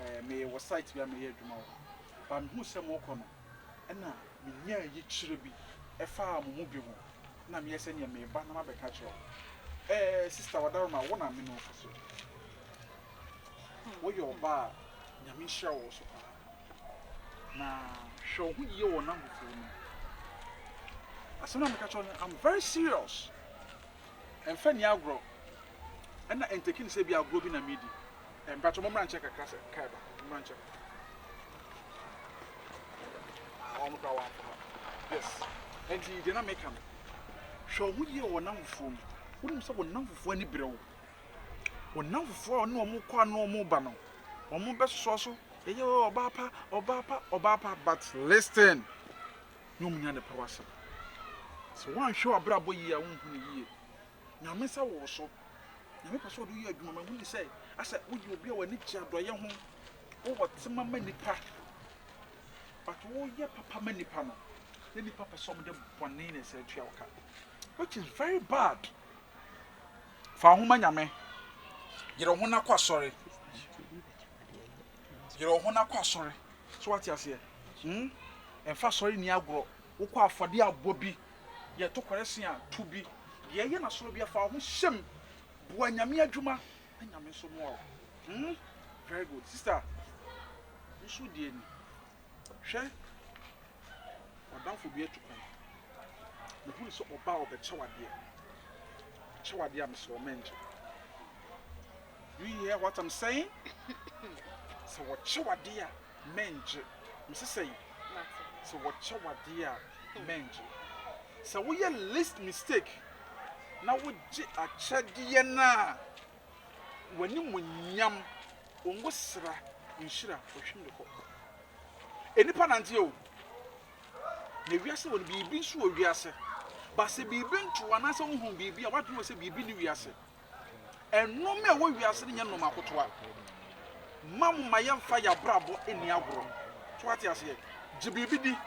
eh, meyɛ wɔ site bi a meyɛ adwuma wɔ hɔ ba mehuu sɛ morekɔ no ɛna menyaa yikyerɛ bi ɛfaa mo mu bi ho na meyɛ sɛ neɛ meba na mabɛka kyerɛ wo eh, sista wadaroma wo na me no fa so woyɛ ɔba a nyame nhyira wɔ so paa na hwɛ wo ho yie wɔ n'ahofoɔ no asɛm na meka kyerɛ no I'm very serious ɛmfa ni agorɔ ɛna ɛntɛki ne sɛ bi agorɔ bi na medi Mpacho mo mrankyɛ kakra sɛ car ba mrankyɛ ah wɔn kora wɔn akoma yes ɛnti deɛ na meka no hwɛ ɔmo yie wɔ nam fufuo mu wonim sɛ wɔ nam fufuo ani brɛ wo wɔ nam fufuo a ɔne ɔmo kɔ ano ɔmo ba no ɔmo bɛ soso so ɛyɛ wɔ ɔbaa pa ɔbaa pa ɔbaa pa but listen na ɔmo nya ne pa wasɛm sɛ wɔn anhwɛ wɔ abrabɔ yie a wɔn hu ne yie. Nyame nsa wɔ wo so. Nyame pɛ sɛ ɔde wo yɛ adwuma. Mahu no sɛ asɛ woyɛ obi a w'ani gye adɔeɛ ho, wowɔ tema ma nnipa, but woyɛ papa ma nnipa no, na nnipa pɛ sɛ wɔn de bɔne na ɛsɛ tua wo ka, which is very bad. Fa wo ho ma Nyame. Yere wo ho na kɔ asɔre. Yere wo ho na kɔ asɔre. So wate aseɛ? Hmm? Ɛmfa asɔre ni agorɔ. Wokɔ afɔde abɔ bi Yɛ tokware sen a tu bi. Deɛ ɛyɛ na soro bia fa wo ho hyɛm boa nyame adwuma na nyame nso moa wo hmm very good sister nso di ani hwɛ wadamfo bi atu kwan me hu no sɛ ɔba a ɔbɛkyɛw adeɛ kyɛw adeɛ a mesrɛ wo mɛngye Do you hear what am saying? Sɛ wɔkyɛ wo adeɛ a, mɛngye. Mese sɛn? Sɛ wɔkyɛ wo adeɛ a, mɛngye. Sɛ woyɛ least mistake na wogye akyɛdeɛ no a, w'animuonyam, wo ngosra, wo nhyira, wɔtwam de kɔ. Nnipa nanteɛ o, na wiase wɔ no, biribi nso wɔ wiase. But sɛ biribi nto wo anaasɛ wohunu biribi a, w'adwene wɔ sɛ biribi nni wiase. Nnoɔma a ɛwɔ wiase no nyɛ nnoɔma akotoa. Mma mo mma yɛmfa yɛn abrabɔ nni agorɔ. So wate aseɛ? Gye biribi di.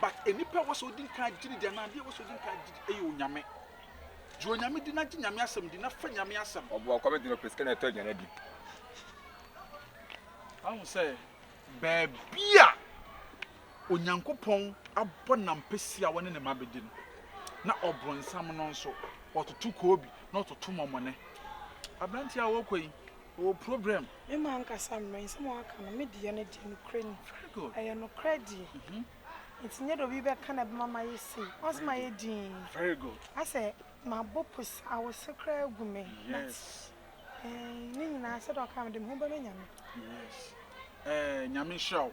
But nnipa a ɛwɔ sɛ wodi nkan gye no di anaa adeɛ a ɛwɔ sɛ wodi nkan gye di yɛ Onyame. Gye Onyame di na gye Nyame asɛm di na fa Nyame asɛm. Ɔboa ɔkɔm enti na ɔpɛ sika na ɛtɔ aduane adi. Wahu sɛ baabi a. Onyankopɔn abɔ n'ampesi a wɔne ne mma bedi no, na ɔbonsam no nso, ɔtoto koobi na ɔtoto mɔmɔne. Aberante a ɔrekɔ yi, ɔwɔ probrɛm. Me m'ankasa mmrɛ, nsɛm a waka no, me deɛ no deɛ, nokorɛ ni. Very good. Ɛyɛ nokorɛ deɛ. Nti nyɛ deɛ obi bɛka na ɛbɛma mayɛ sei. Once mayɛ dinn. Very good. Asɛ mabɔ pus, awose koraa agu me. Yes. But eh, ne nyinaa, sɛdeɛ ɔkaa no, mede me ho bɛma Nyame. Yes. Eh, Nyame nhyira wo.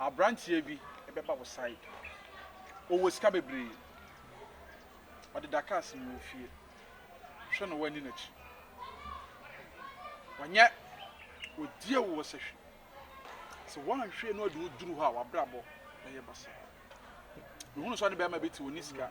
Abranteɛ bi bɛba wo side ɔwɔ sika bebree ɔdeda cars mu wɔ fie hwɛ no wani nakyi ɔnyɛ ɔdie wo wɔ sɛ hwɛ sɛ wanhwɛ no ɔde wo duru hɔ a wabrabɔ bɛyɛ basaa mehunu sɛ ɔne bɛrima bi te ɔni sika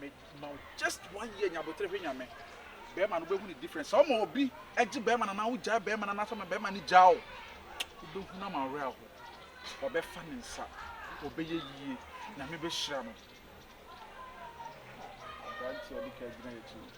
Me ma wo just one year nya abotere hwɛ nyame bɛrima no wobɛhu ne difference sɛ ɔma obi gye bɛrima no anaa wogyae bɛrima no anaa sɛ ma bɛrima no gyaa wo wobɛhu no ama awerɛ aho wɔbɛfa ne nsa wɔbɛyɛ yie nyame bɛhyira no aberanteɛ ɔde ka gyina yɛkyi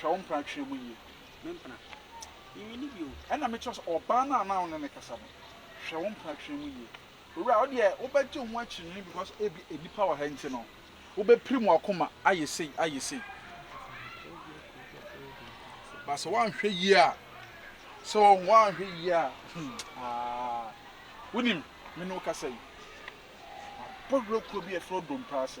Hwɛ wo mpena twerɛ mu yie. Me mpena? Menwi no bi o. Ɛna me kyerɛ wo sɛ ɔbaa no a na wo ne no kasa no, hwɛ wo mpena twerɛ mu yie. Owura, wo deɛ wo bɛ gye wo ho akyinnye because ebi nnipa wɔ ha nti no, wo bɛ pirim w'akoma ayɛ sei, ayɛ sei. But sɛ woanhwɛ yie a, sɛ wo woanhwɛ yie a, hmm, aa, wonim, me ne wo kasa yi, mabɔ werɛ kuo bi a ɛfrɛ Domprase.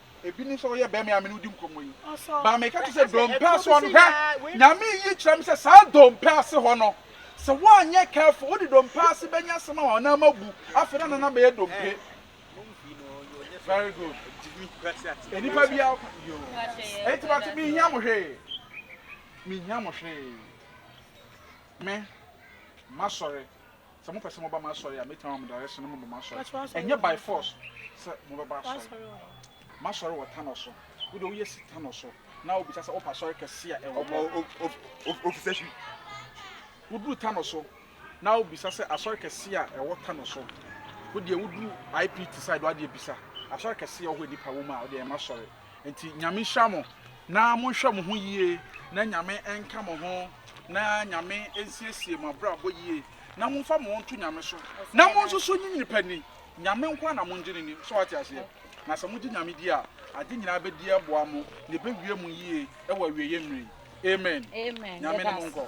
Ebi ni sɛ ɔyɛ bɛɛ me a me ne wo di nkɔmmɔ yi. Ba meka te sɛ dompe ase hɔ no hwɛ. Nyame yi kyerɛ me sɛ saa dompe ase hɔ no sɛ woanyɛ careful wode dompe ase bɛnya asɛm ama wo nan mu abu afei na nana bɛyɛ dompe. Very good. Enipa bi a yo. Eti bate me hia mo hwee. Me hia mo hwee. Me masɔre. Sɛ mopɛ sɛ moba m'asɔre a, mɛtumi ama mo direction na moaba m'asɔre. Ɛnyɛ by force sɛ mobɛba asɔre. M'asɔre wɔ Tanɔ so. Wo deɛ woyɛ si Tanɔ so na wobisa sɛ wopɛ asɔre kɛse a ɛwɔ hɔ. Ofisɛ hwi. Woduru Tanɔ so na wobisa sɛ asɔre kɛse a ɛwɔ Tanɔ so. Wo deɛ woduru IPT side hɔ adeɛ bisa asɔre kɛse a ɛwɔ hɔ a nnipa wɔ mu a, wo deɛ ɛyɛ m'asɔre. Nti Nyame nhyira mo na monhwɛ mo ho yie na Nyame nka mo ho na Nyame nsiesie mo abrabɔ yie na monfa mo ho nto Nyame so na monsusu nye nipa ni Nyame nko ara na mongye no ni so wate aseɛ na sɛ mogye Nyame di a ade nyinaa bɛdi aboa mo na ɛbɛwie mo yie wɔ awieɛ mmerɛ yi Amen Nyame ne mo nkɔ.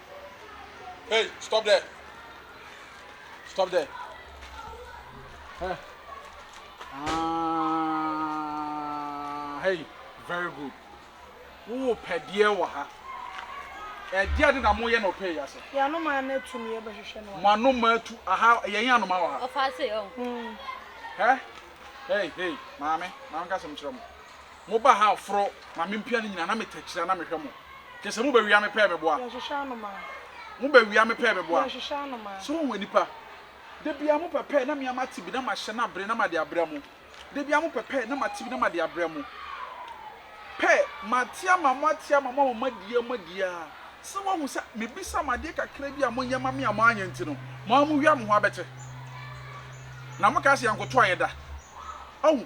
Hey, stop there. Stop there. Hey. Ah, hey, very good. Wo pɛdeɛ wɔ ha. Ɛdeɛ ade na moyɛ na ɔpɛ yi ase. Yɛ anoma no atu no yɛbɛhwehwɛ no. Mo anoma atu aha yɛn yɛ anoma wɔ ha. Ɔfa ase ɔ. Hɛ, hey, hey, maame, maame ka sɛm kyerɛ mo. Mo ba ha foro ma me mpia ne nyina na me takyira na me hwɛ mo kɛ sɛ mo bɛ wia me pɛɛ me boa mo bɛ wia me pɛɛ me boa so wohu anipa da bia mo pɛ pɛɛ na mea ma te bi na ma hyɛ no abere na ma de abrɛ mo da bia mo pɛ pɛɛ na ma te bi na ma de abrɛ mo pɛɛ ma te ama mo ate ama mo ama mo adi a mo adi a sɛ wohu sɛ me bisa mo adeɛ kakra bi a mo nyɛ ma me a mo anyɛ nti no mo a mo wia mo ho abɛte na mo ka sɛ yɛnkoto ayɛ da ahu.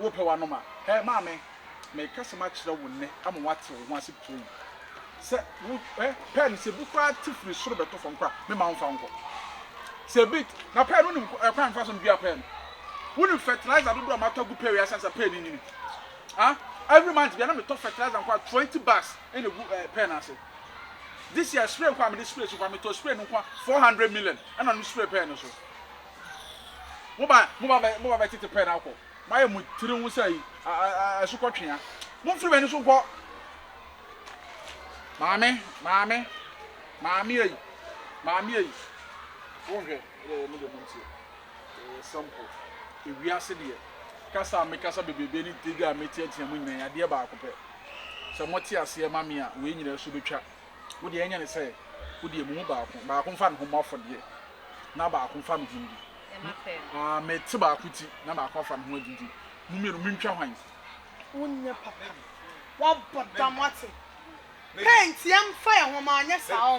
Worepɛ w'anom a, hɛ, maame, mereka asɛm akyerɛ wo nnɛ ama woate wo ho ase pirim sɛ wo, hɛ, pɛɛ no, sɛ ebi koraa te firi soro bɛtɔ fam mpo a, meremma womfa nkɔ. Sɛ ebi, na pɛɛ no, wonim kwan a mefa so medua pɛɛ no? Wonim fertilizer dodoɔ a matɔ agu pɛɛ wei ase ansa pɛɛ no nyini? Ha? Every month biara na metɔ fertilizer nko a, twenty bags na egu eh, pɛɛ no ase. This year, spray nko a mede spray so koraa, metɔɔ spray no nko a, four hundred million na mede spray pɛɛ no so. Moba, moba bɛ, moba bɛtete pɛɛ no akɔ. Moayɛ mo tiri ho sɛ yi, a, a, a, asukɔtwea. Momfiri m'ani so nkɔ! Maame, maame, maame ei, maame ei. Wonhwɛ, ɛdeɛ ɛyɛ mo deɛ montie. Ɛyɛ simple. Ewiase deɛ, kasa a mekasa bebrebe ne tiri a meteatea mu nyinaa ɛyɛ adeɛ baako pɛ. Sɛ mote aseɛ ma me a, wei nyinaa so bɛtwa. Wo deɛ ɛnyɛ ne sɛ wo deɛ mo mu baako baako mfa ne ho mmɔ afɔdeɛ na baako mfa ne ho ndi. Ah, mete baako ti na baako afa ne ho adi nti mo mmienu mentwa hwan? Wonyɛ papa no. Wabɔ dam wate. Paint yɛmfa yɛn ho ma anyɛ saa o.